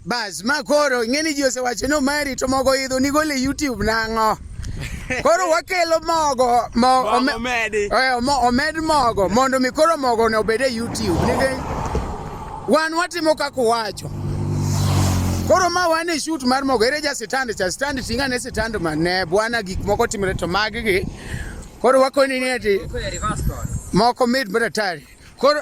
Bas, ma koro ing'eni ji osewacho ni omari to mogo idho nigole YouTube nang'o? Koro wakelo mogo, mo, ome, omedi. Eh, mo, omed mogo mondo mi koro mogo ne obed e YouTube. Nikech wan watimo kaka uwacho. Koro ma wan e shoot mar mogo ere ja sitand cha sitand tinga ne sitand ma ne bwana gik moko timre to magi gi. Koro wakoni ni ati moko mid maratari. Koro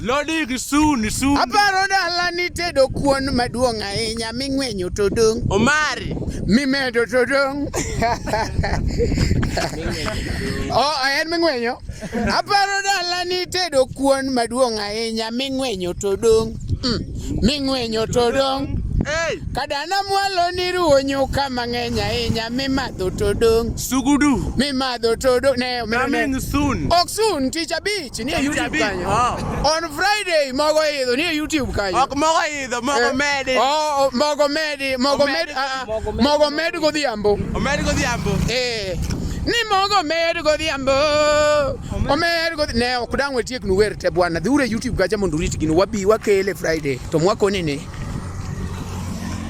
Lodi kisuni suni. Aparo dala ni tedo kuon maduong' ahinya ming'wenyo to dong'. Omari. Mimedo to dong'. oh, en ming'wenyo. Aparo dala ni tedo kuon maduong' ahinya ming'wenyo to dong'. Mm. Ming'wenyo to dong'. Hey. Kadana mwalo ni ruwo nyuka mang'eny ahinya mimadho to dong'. Sugudu. Mimadho to dong'. Ne, ne, ne. Coming soon. Ok soon, tich abich. Si nie YouTube kanyo. Oh. On Friday mogo idho nie YouTube kanyo. Ok mogo idho, mogo eh, medi. Oh, oh, mogo medi, mogo med, ah, ah, mogo med godhiambo. Omed godhiambo. Eh. Ni mogo med godhiambo. Omed godhi ne ok dang wetiek nu wer te bwana. Dhiure YouTube kacha mondo urit gino wabi wakele Friday. To mwakoni ni.